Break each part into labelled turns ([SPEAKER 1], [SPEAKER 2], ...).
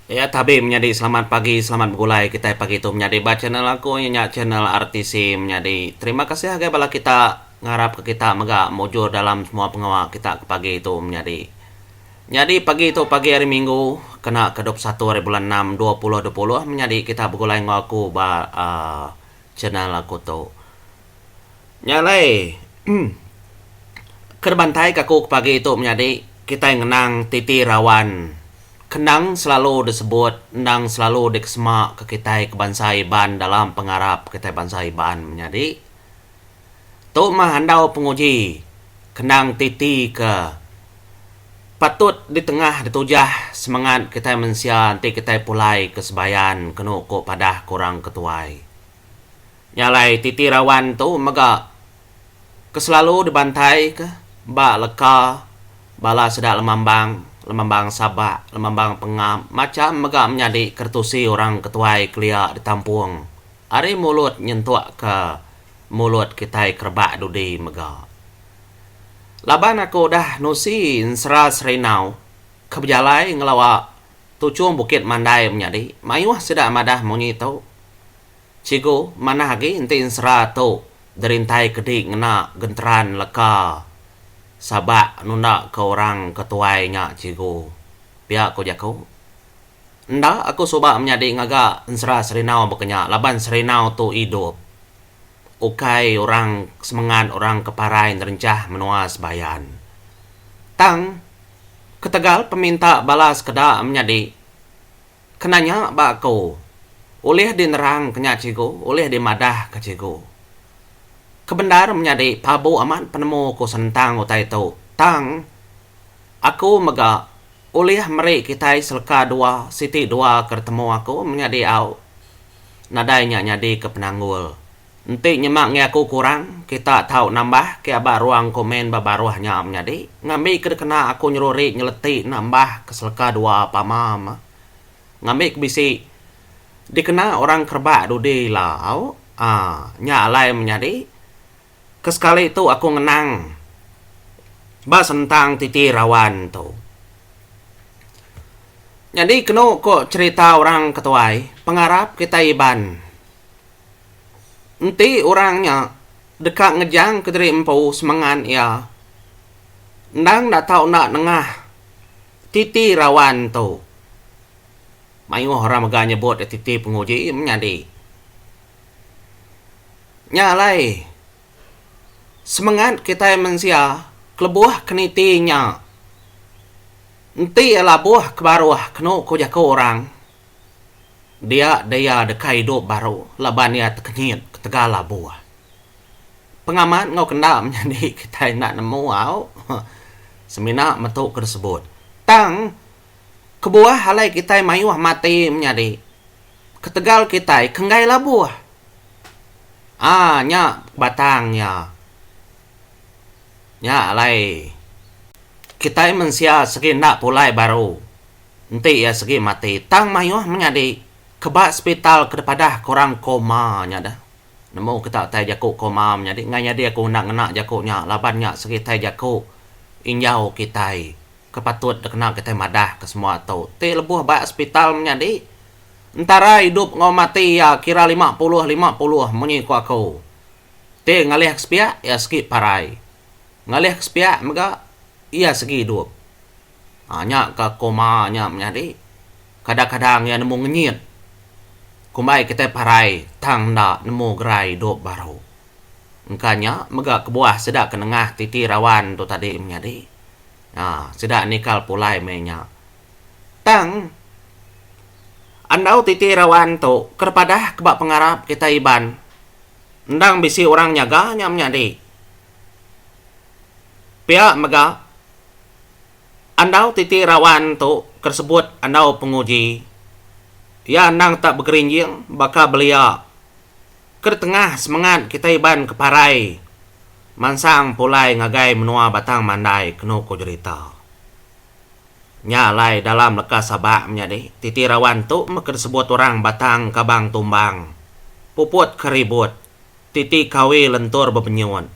[SPEAKER 1] Ya tabi menyadi selamat pagi selamat begulai kitai pagi tu menyadi ba channel aku iya nya channel RTC menyadi terima kasih agei bala kita ngarap ka kita mega mujur dalam semua pengawa kita ke pagi tu menyadi. Nyadi pagi tu pagi hari minggu kena ka dua puluh satu hari bulan enam dua puluh dua puluh menyadi kita begulai enggau aku ba aaa Channel aku tu. Nya alai ke dibantai ke aku ke pagi tu menyadi kitai ngenang titi rawan ke endang selalu disebut endang selalu dikesema ke kitai ke bansa Iban dalam pengarap kitai bansa Iban menyadi. Tu mah andau penguji kendang titi ke patut ditengah ditujah semangat kitai mensia enti kitai pulai ke sebayan kenu ku padah ku orang ke tuai. Nya alai titi rawan tu mega ke selalu dibantaika ba leka bala sida lemambang, lemambang sabak, lemambang pengam macham mega menyadi keretusi orang ke tuai kelia ditampung ari mulut nyentukka. mulut kitai ke rebak dudi mega. Laban aku udah nusi ensera Serindau ke bejalai ngelawa Tuchung Bukit Mandai menyadi mayuh sida madah munyi tu. Cigu, manah agi enti ensera tu derintai ke di ngena genteran leka sabak nunda ke orang ke tuai nya cigu, pia ku jaku. Enda aku suba menyadi ngaga ensera Serinau baka nya laban Serinau tu idup ukai orang semengat orang ke parai nerenchah menua Sebayan. Tang ketegal peminta bala sekeda menyadi kena nya ba aku ulih dinerangka nya cikgu ulih dimadahka cikgu. Kebendar menyadi pabu amat penemu ku senentang utai tu tang aku mega. Ulih meri kitai seleka dua siti dua ke ditemu aku menyadi au nadai nya nyadi ke penanggul. Enti nyema ngi aku kurang, kita tau nambah ke aba ruang komen ba baruh nya menyadi ngambi ke dikena aku nyeruri nyeleti nambah ke seleka dua pama me ngambi ke bisi dikena orang kerebak dudi ila au aa nya alai menyadi Ke sekali tu aku ngenang ba sentang titi rawan tu. Nyadi kenu ko cherita orang ke tuai, pengarap kitai Iban enti orang nya deka ngejang ke diri empu semengan iya endang enda tau enda nengah titi rawan tu. Mayuh orang mega nyebut iya titi penguji menyadi. Nya alai, semengat kitai mensia kelebuh ke niti nya enti iya labuh ke baruh kenu ku jaku orang, dia deh iya deka idup baru laban iya tekenyit ketegal labuh. Pengamat enggau ke enda menyadi kitai enda nemu au semina metu ke disebut. Tang. Kebuah alai kitai mayuh mati menyadi. Ketegal kitai ke enggai labuh. Aa nya batang iya. Nya alai kitai mensia segi enda pulai baru enti iya segi mati tang mayuh menyadi ke ba sepital ke dipadah ke orang koma nya deh. Nemu kita utai jaku koma menyadi. Enggai nyadi aku enda ngena jaku nya laban nya segi utai jaku injau kitai. ke patut dikena kitai madah ke semua tu ti lebuh ba hospital menyadi entara idup enggau mati iya kira lima puluh lima puluh munyi ku aku ti ngalih ke sepiak iya segi parai ngalih ke sepiak mega iya segi idup um nya ka koma nya menyadi kadang kadang iya nemu ngenyit kumbai kitai parai tang enda nemu gerai idup baru. Engka nya mega kebuah sida ke nengah titi rawan tu tadi menyadi. Nya sida nikal pulai meh nya. Tang andau titi rawan tu ke dipadah ke ba pengarap kitai Iban endang bisi orang nyaga nya menyadi. Pia mega andau titi rawan tu ke disebut andau penguji iya endang tak begerinjing baka belia. Kedetengah semengat kitai iban ke parai mansang pulai ngagai menua Batang Mandai kenu ku jerita. Nya alai dalam leka Sabak menyadi titi rawan tu meh ke disebut orang Batang Kabang Tumbang, puput ke ribut, titi kawi lentur bebenyut.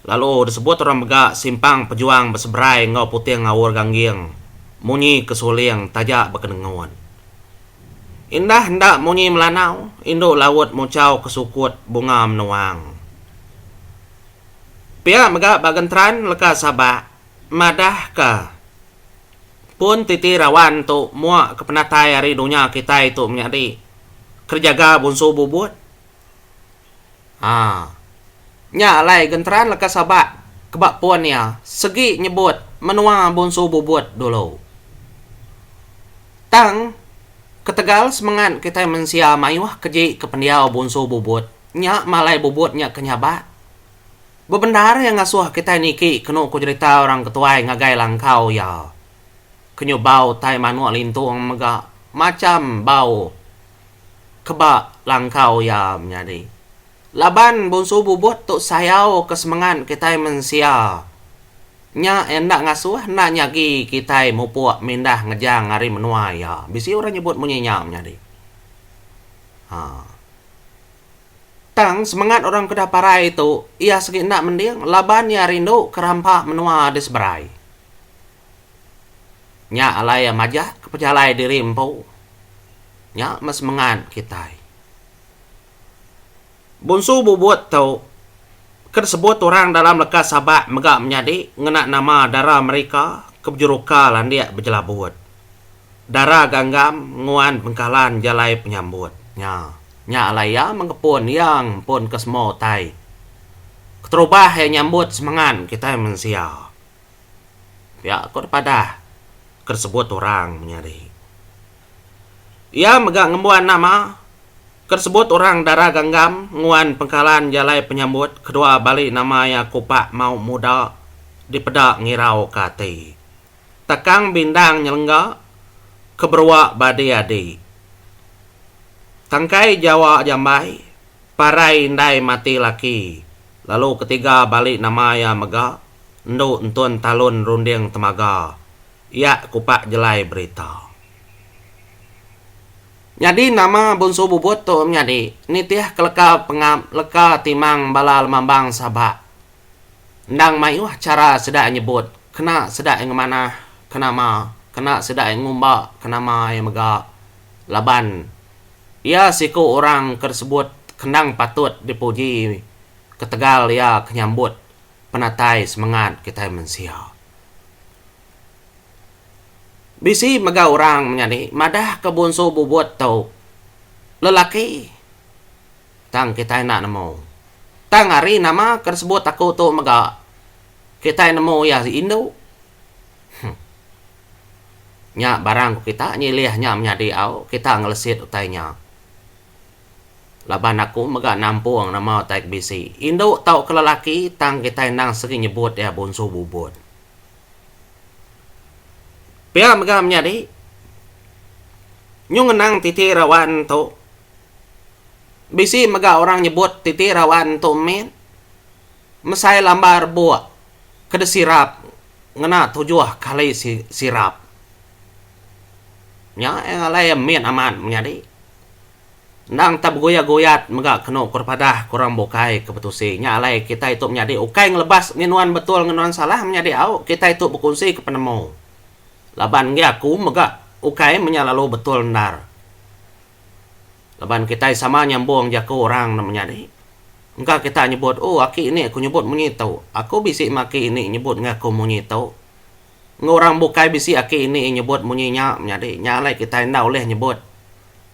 [SPEAKER 1] lalu disebut orang mega simpang pejuang beseberai enggau puting ngaur gangging munyi ke suling taja bekenengun. Indah enda munyi melanau, indu laut muchau ke sukut bunga menuang. Pia mega ba genteran leka Sabak madah ka pun titi rawan tu mua ke penatai ari dunya kitai tu menyadi kerejaga bunsu bubut. Haa. Nya alai genteran leka Sabak ke ba pun iya segi nyebut menua Bonsu Bubut dulu. Tang ketegal semengat kitai mensia mayuh keji ke pendiau Bonsu Bubut nya malai Bubut nya ke nyabak. Bebendar iya ngasuh kitai niki kenu ku jerita orang ketuai ngagai langkau iya. Kenyubau tai manuk lintung mega macham bau. ke ba langkau iya menyadi. Laban Bonsu Bubut tu sayau ke semengat kitai mensia nya enda ngasuh enda nyagi kitai mupuk mindah ngejang ari menua iya. Bisi orang nyebut munyi nya menyadi. Haa. Tang semengat orang ke udah parai tu iya segi enda mending laban iya rindu ke rampa menua di seberai. Nya alai iya majak pejalai diri empu. Nya meh semengat kitai. Bonsu Bubut tu ke disebut orang dalam leka Sabak mega menyadi ngena nama dara Amerika ke bejeruka landik bejelabut. Dara Ganggam nguan Bengkalan jalai penyambut nya. Nya alai iya mengepun iya ngempunka semua utai keterubah iya nyambut semengat kitai mensia. Pia ku da padah ke sebut orang menyadi. Iya mega ngembuan nama ke sebut orang dara ganggam nguan pengkalan jalai penyambut kedua bali nama iya kupak mau muda dipeda ngirau ke ati. Takang bindang nyelengga ke berua badi adi. Tangkai Jawa jambai. Parai indai mati laki lalu ketiga bali nama iya mega endu entun talun runding temaga iya kupak jelai berita. Nyadi nama Bunsu Bubut tu menyadi nitih keleka pengap leka timang bala lemambang Sabak endang mayuh chara sida ai nyebut kena sida ai ngemanah ke nama kena sida ai ngumba ke nama iya mega laban Iya siku orang ke disebut kendang patut dipuji ketegal iya ke nyambut penatai semengat kitai mensia. Bisi mega orang menyadi madahka Bonsu Bubut tu lelaki. Tang kitai enda nemu. Tang ari nama ke disebut aku tu mega kitai nemu iya indu. Huh. Nya barang ku kita nyilih nya menyadi au kita ngelesit utai nya. Laban aku mega nampung nama utai ke bisi. Indu tauka lelaki tang kitai endang segi nyebut iya bunsu bubut. Pia mega menyadi nyung ngenang titi rawan tu bisi mega orang nyebut titi rawan tu min mesai lamba rebuk. keda sirap ngena tujuh kali sirap nya nya alai iya min amat menyadi endang tau beguyat guyat mega kenu ku ri padah ku orang bukai ke betusi nya alai kitai tu menyadi ukai ngelebas ngin nuan betul ngin nuan salah menyadi au kitai tu bekunsi ke penemu laban enggei aku mega ukai menyalalu betul endar. Laban kitai sama nyambung jaku orang ne menyadi. Engka kita nyebut, Oh, aki ni aku nyebut munyi tu. Aku bisi meh aki ini nyebut enggau aku munyi tu. Enggau orang bukai bisi aki ini nyebut munyi nya menyadi. Nya alai kitai enda ulih nyebut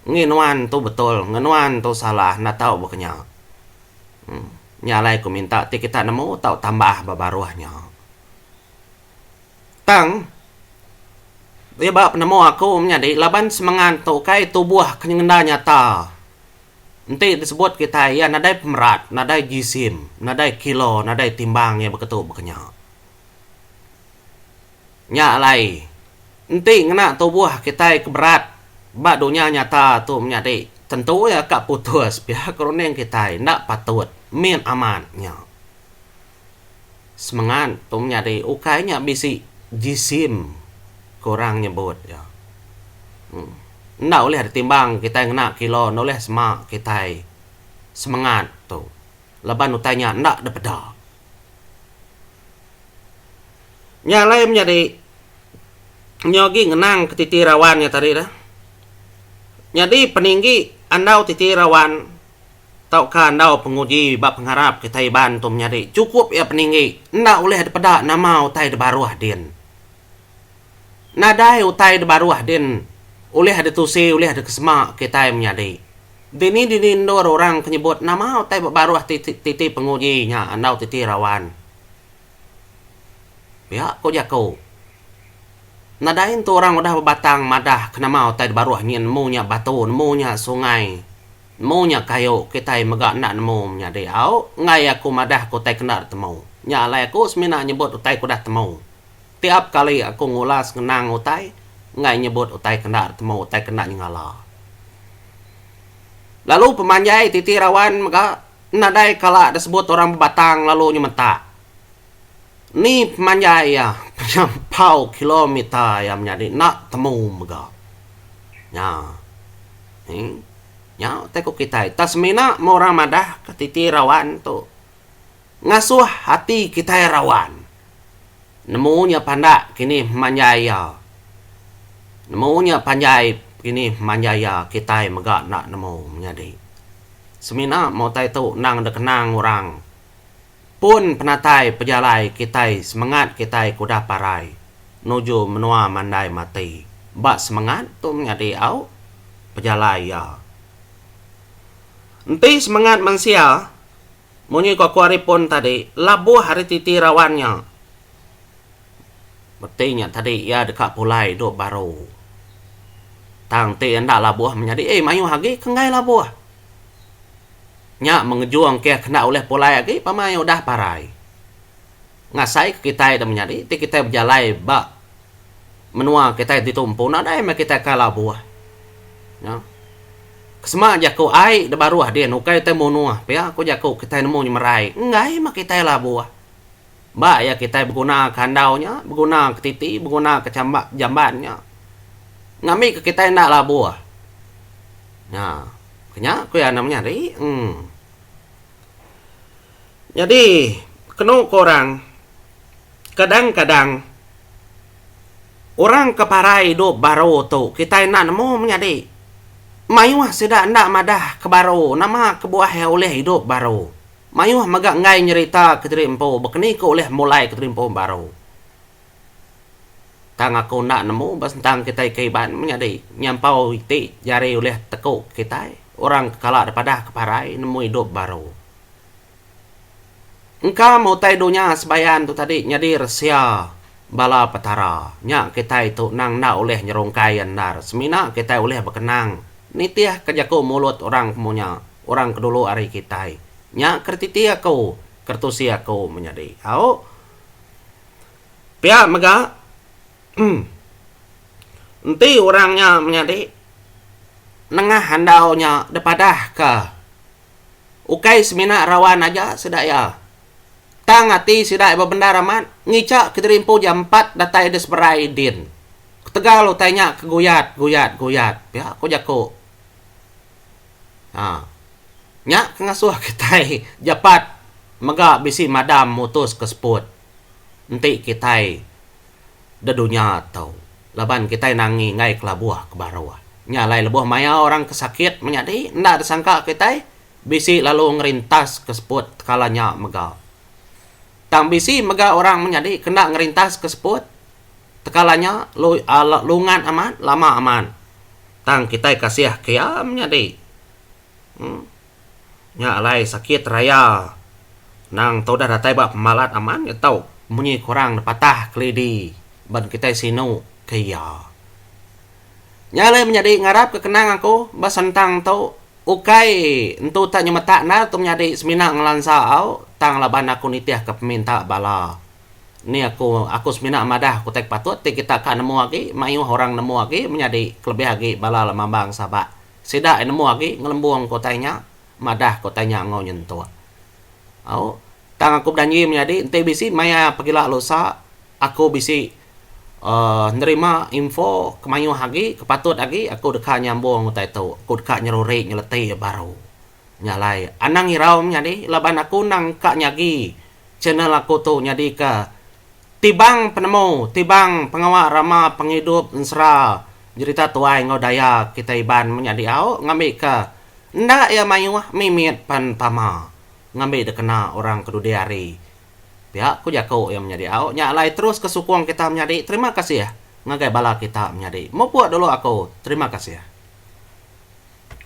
[SPEAKER 1] ngi nuan tu betul, ngi nuan tu salah enda tau baka nya. Nya alai aku minta ti kita nemu tau tambah ba baruh nya. Tang iya ba penemu aku menyadi laban semengat tu ukai tubuh ke nyenda nyata enti disebut kitai iya nadai pemerat, nadai jisim, nadai kilo, nadai timbang iya beketu bekenya. Nya alai enti ngena tubuh kitai ke berat ba dunya nyata tu menyadi tentu iya ka putus pia ke runding kitai enda patut min amat nya. semengat tu menyadi ukai nya bisi jisim ke orang nyebut iya. Enda ulih ditimbang kitai ngena kilo enda ulih sema kitai semengat tu laban utai nya enda dipeda. Nya alai menyadi nyau agi ngenang ke titi rawan nya tadi dah. Nyadi peninggi andau titi rawan. Tauka andau penguji ba pengarap kitai Iban tu menyadi chukup iya peninggi enda ulih dipeda nama utai di baruh din. Nadai utai di baruh din ulih ditusi ulih dikesema kitai menyadi. Dini-dini endur orang ke nyebut nama utai ba baruh ti titi penguji nya andau titi rawan. Pia ko jaku. Nadai entu orang udah bebatang madah ke nama utai di baruh nyin nemu nya batu nemu nya sungai. Nemu nya kayu kitai mega enda nemu menyadi au enggai aku madah ke utai kena ditemu. Nya alai aku semina nyebut utai ke udah temu. Tiap kali aku ngulas ngenang utai enggai nyebut utai ke enda ditemu utai ke enda nyengala. Lalu pemanjai titi rawan mega nadai kala disebut orang bebatang lalu nyemetak. Ni pemanjai iya penyampau kilometer iya menyadi enda temu mega nya. Hee. Nya utai ku kitai tang semina meh orang madah ka titi rawan tu ngasuh ati kitai rawan nemu nya pandak kinih pemanjai iya nemu nya panjai kinih pemanjai iya kitai mega enda nemu menyadi. Semina meh utai tu endang dikena orang. Pun penatai pejalai kitai semengat kitai ke udah parai nuju menua mandai mati ba semengat tu menyadi au pejalai iya. Enti semengat mensia munyi ko Kuari Pun tadi labuh ari titi rawan nya meti nya tadi iya deka pulai duk baru tang ti enda labuh menyadi mayuh agi ke enggai labuh. Nya mengejung keh kena ulih pulai agi pamai udah parai. Ngasai ke kitai dah menyadi ti kitai bejalai ba menua kitai ditu empu nadai meh kitai ka labuh. Nya. Kesema jaku ai da baruh din ukai utai munuh pia ku jaku kitai nemu nyemerai enggai meh kitai labuh. Ba iya kitai beguna ke andau nya, beguna ke titi, beguna ke chamba jamban nya ngambika kitai enda labuh. Nya. Ku nya ku iya enda menyadi. Em. Nyadi kenu ku orang kadang-kadang orang ke parai idup baru tu kitai enda nemu menyadi mayuh sida enda madah ke baru nama kebuah iya ulih idup baru. Mayuh mega enggai nyerita kediri empu bakani ke ulih mulai kediri empu baru. Tang aku enda nemu ba sentang kitai ke Iban menyadi nyampau iti jari ulih teku kitai orang ke kala dipadah ke parai nemu idup baru. Engka meh utai dunya sebayan tu tadi nyadi resia bala Petara. Nya kitai tu nang enda ulih nyerungkai iya endar semina kitai ulih bekenang nitihka jaku mulut orang ke munya, orang ke dulu ari kitai. Nya ke retiti aku, ke retusi aku menyadi. Au. Pia mega, enti orang nya menyadi nengah andau nya dipadahka ukai semina rawan aja sida iya, tang ati sida iya bebendar amat ngica kediri empu jam empat datai diseberai din. Ketegal utai nya keguyat, guyat, guyat, pia ku jaku. Haa. Nya ke ngasuh kitai jepat mega bisi madam mutus ke seput enti kitai da dunya tu laban kitai nangi enggai kelabuh ke baruh. Nya alai lebuh maya orang ke sakit menyadi enda disangka kitai bisi lalu ngerintas ke seput tekala nya mega. Tang bisi mega orang menyadi ke enda ngerintas ke seput Tekala nya lungat amat, lama amat. Tang kitai kasih ke iya menyadi. Uhh. Nya alai sakit raya nang tau udah datai ba pemalat amat nya tau munyi kurang dipatah kelidi ban kitai sinu ke iya. Nya alai menyadi ngarap ke kenang aku ba sentang tu ukai entu ta nyemetak endar tu menyadi semina ngelansa au tang laban aku nitihka peminta bala. Ni aku aku semina madah aku ti patut ti kita ka nemu agi mayuh orang nemu agi menyadi kelebih agi bala lemambang Sabak. Sida ai nemu agi ngelembung ke utai nya madah ke utai nya enggau nyentuk. Au tang aku bejanji menyadi enti bisi maya pegila lusa aku bisi uhh nerima info ke mayuh agi ke patut agi aku deka nyambung utai tu. Aku deka nyeruri nyeleti baru. Nya alai anang irau menyadi laban aku endang ka nyagi channel aku tu nyadika tibang penemu tibang pengawa rama pengidup ensera jerita tuai enggau daya kitai Iban meh nya diau ngambika enda iya mayuh mimit pan tama ngambi dikena orang kedudi hari. Pia ku jaku iya meh nya diau nya alai terus ka sukung kita menyadi terima kasih ngagai bala kita menyadi mupuk dulu aku terima kasih.